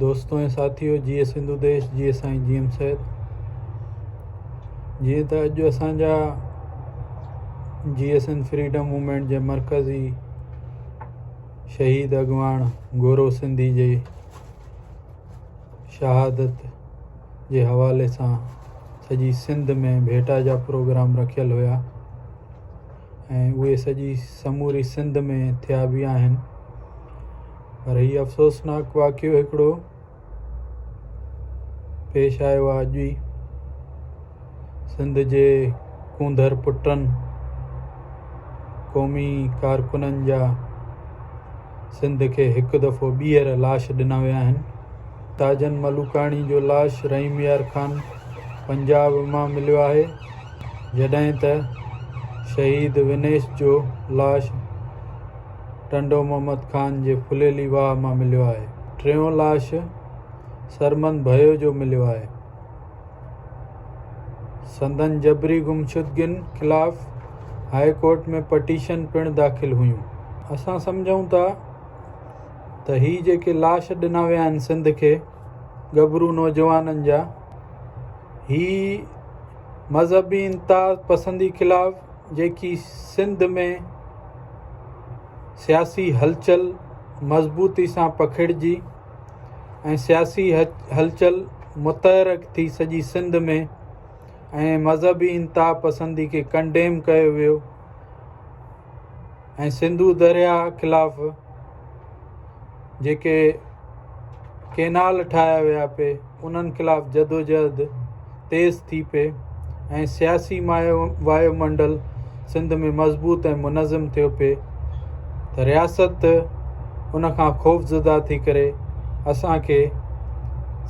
دوستو ۽ ساٿيو جيئي سنڌو ديش جيئي سائين جي ايم سيد جيئن ته اڄ اسان جا J S N freedom movement جي مرڪزي شهيد اڳواڻ گورو سنڌي جي شهادت جي حوالي سان سڄي سنڌ ۾ ڀيٽا جا پروگرام رکيل هيا ۽ اهي سڄي سموري سنڌ ۾ ٿيا به آهن پر هي افسوسناڪ واقعو هڪڙو پيش آيو آهي اڄ ئي سنڌ جي ڪونڌر پٽن قومي ڪارڪنن جا سنڌ کي هڪ دفعو ٻيهر لاش ڏنا ويا آهن تاجن ملوڪاڻي جو لاش رحيم يار خان پنجاب مان مليو آهي جڏهن ته شهيد ونيش جو لاش ٽنڊو محمد خان جي ڦليلي واهه مان مليو آهي. ٽيون لاش سرمند ڀيو جو مليو آهي. سندن جبري گمشدگين خلاف هاء ڪورٽ ۾ پٽيشن پڻ داخل هيون. اسان سمجهون ٿا ته هي جيڪي لاش ڏنا ويا آهن سنڌ کي ڳڀرو نوجوانن جا هي مذهبي انتها پسندي خلاف جيڪي سنڌ ۾ سياسي هلچل مضبوطي سان پکڙجي ۽ سياسي هلچل متحرڪ ٿي سڄي سنڌ ۾ ۽ مذهبي انتها پسندي کي ڪنڊيم ڪيو ويو ۽ سنڌو درياء خلاف جيڪي ڪينال ٺاهيا ويا پي انهن خلاف جدوجهد تيز ٿي پي ۽ سياسي وايو منڊل سنڌ ۾ مضبوط ۽ منظم ٿيو پي ته رياست ان کان خوفزده ٿي ڪري اسان کي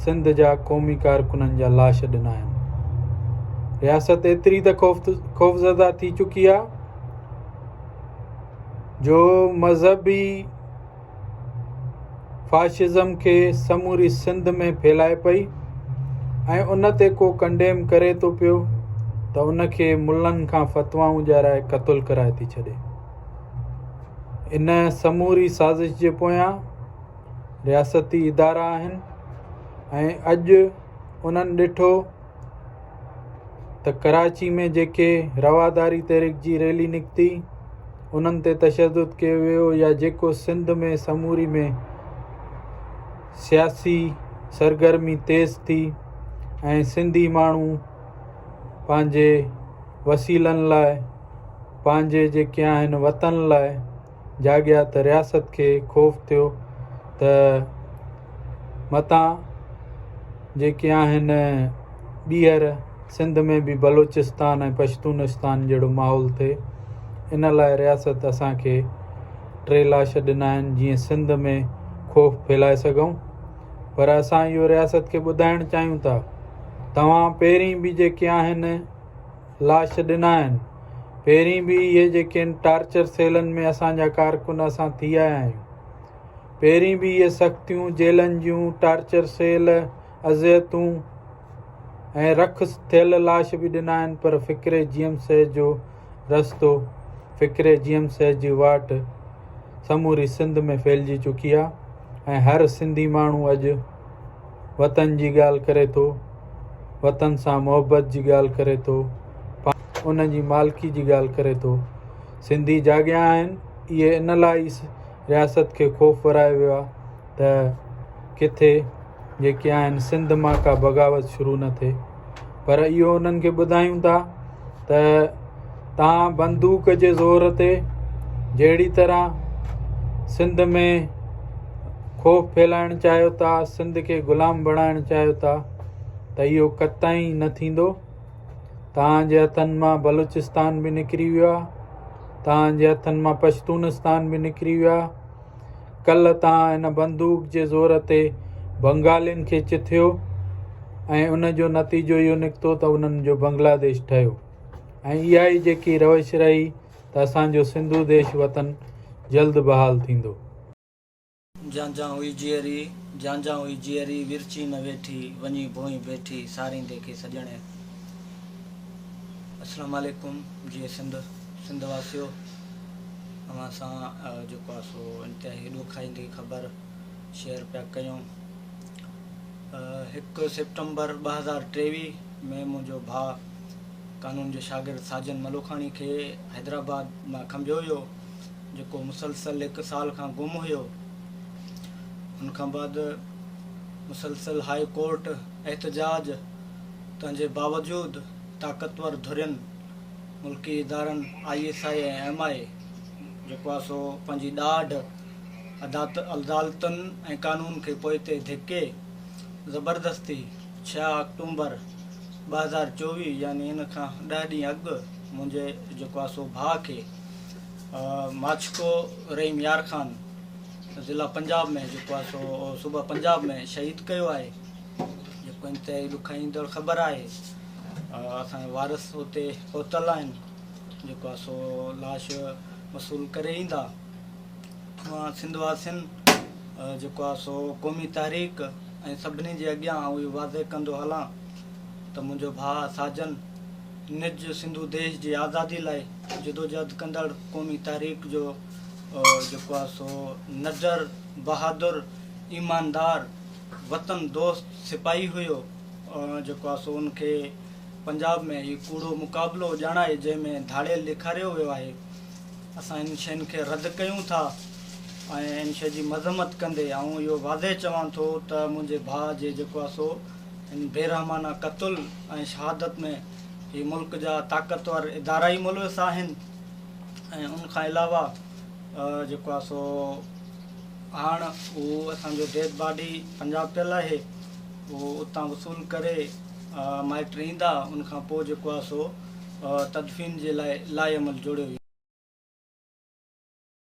سنڌ جا قومي ڪارڪنن جا لاش ڏنا آهن رياست ايتري ته خوفزده ٿي چڪي آهي جو مذهبي فاشزم کي سموري سنڌ ۾ ڦهلائي پئي ۽ ان تي ڪو ڪنڊيم ڪري ٿو پيو ته ان کي ملن کان فتوائون ڏيارائي قتل ڪرائي ٿي ڇڏي ان سموري سازش جي پويان رياستي ادارا آهن ۽ اڄ انهن ڏٺو ته ڪراچي ۾ جيڪي رواداري تحريڪ جي ريلي نڪتي انهن تي تشدد ڪيو ويو يا جيڪو سنڌ ۾ سموري ۾ سياسي سرگرمي تيز ٿي ۽ سنڌي ماڻهو پنهنجي وسيلن لاءِ پنهنجي جيڪي آهن وطن لاءِ جاڳيا ته رياست کي خوف ٿيو ته متان جيڪي آهن ٻيهر سنڌ ۾ به بلوچستان ۽ پشتونستان جهڙو ماحول ٿئي ان لاء رياست اسان کي ٽي لاش ڏنا آهن جيئن سنڌ ۾ خوف ڦهلائي سگهون پر اسان اهو رياست کي ٻڌائڻ چاهيون ٿا توهان پهرين به جيڪي آهن لاش ڏنائين. پهرين به اهي جيڪين ٽارچر سيلن ۾ اسان جا ڪارڪن اسان ٿي آيا آهيون. پهرين به اهي سختيون، جيلن جون ٽارچر سيل، اذيتون ۽ رک ٿيل لاش به ڏنائين پر فڪري جيم سيح جو رستو، فڪري جيم سيح جي واٽ سموري سنڌ ۾ ڦهلجي چڪي آهي ۽ هر سنڌي ماڻهو اڄ. وطن جي ڳالهه ڪري ٿو، وطن سان محبت جي ڳالهه ڪري ٿو، پاڻ ان جي مالڪي جي ڳالهه ڪري ٿو. سنڌي جاڳيا آهن، اهي ان لاء ئي رياست کي خوف ورايو ويو آهي ته ڪٿي جيڪي آهن سنڌ مان ڪا بغاوت شروع نه ٿئي. پر اهو انهن کي ٻڌايون ٿا ته تان بندوق جي زور تي جهڙي طرح سنڌ ۾ خوف ڦهلائڻ چاهيو ٿا سنڌ کي غلام بڻائڻ چاهيو ٿا ته اهو قطعي نه ٿيندو تان جي هٿن مان بلوچستان بي نڪري ويو آهي تان جي هٿن مان پشتونستان بي نڪري ويو آهي ڪلهه تان ان بندوق جي زور تي بنگالين کي چٿيو ۽ ان جو نتيجو اهو نڪتو ته انهن جو بنگلاديش ٺهيو ۽ اها ئي جيڪي روش رهي ته اسان جو سنڌو ديش وطن جلد بحال ٿيندو. جان جان هئي جيئري، جان جان هئي جيئري، ورچي نه ويٺي، وڃي ڀونء بيٺي، ساريندي کي سڄڻي. اسلام عليڪم جيئي سنڌ سنڌ واسيو. اوهان سان جيڪو آهي سو انتهائي ڏکائيندي خبر شيئر پيا ڪيون هڪ سيپٽمبر ٻه هزار ٽيويهه ۾ منهنجو ڀاء قانون جو شاگرد ساجن ملوکاڻي کي حيدرآباد مان کنڀيو ويو جيڪو مسلسل هڪ سال کان گم هيو ان کان بعد مسلسل هاء ڪورٽ احتجاج تنهنجي باوجود طاقتور ڌرين ملڪي ادارن I S I ۽ M I جيڪو آهي سو پنهنجي ڏاڍ عدالتن ۽ قانون کي پوئتي ڌڪي زبردستي ڇهه آڪٽومبر ٻه هزار چوويهه يعني ان کان ڏهه ڏينهن اڳ منهنجي جيڪو آهي سو ڀاء کي ماڇڪو رحيم يار خان ضلع پنجاب ۾ جيڪو آهي سو صوبه پنجاب ۾ شهيد ڪيو آهي جيڪو انتهائي ڏکائيندڙ خبر آهي اسان جا وارث اتي پهتل آهن جيڪو آهي سو لاش وصول ڪري ايندا مان سنڌ واسين جيڪو آهي سو قومي تحريڪ ۽ سڀني جي اڳيان آئون اهو واضح ڪندو هلان ته منهنجو ڀاء ساجن نج سنڌو ديش جي آزادي لاء جدوجهد ڪندڙ قومي تحريڪ جو جيڪو آهي سو نڊر بهادر ايماندار وطن دوست سپاهي هيو جيڪو آهي سو ان کي پنجاب ۾ هي ڪوڙو مقابلو ڄاڻائي جنهن ۾ ڌاڙيل ڏيکاريو ويو آهي اسان ان شين کي رد ڪيون ٿا ۽ ان شي جي مذمت ڪندي آئون اهو واضح چوان ٿو ته منهنجي ڀاء جي جيڪو آهي سو ان بي رحمانه قتل ۽ شهادت ۾ هي ملڪ جا طاقتور ادارا ئي ملوث آهن ۽ ان کان علاوه جيڪو آهي سو هاڻ اهو اسان جو ڊيڊ باڊي پنجاب پيل آهي اهو اتان وصول ڪري مائٽ ايندا ان کان پوء جيڪو آهي سو تدفين جي لاء لائحه عمل جوڙيو ويندو.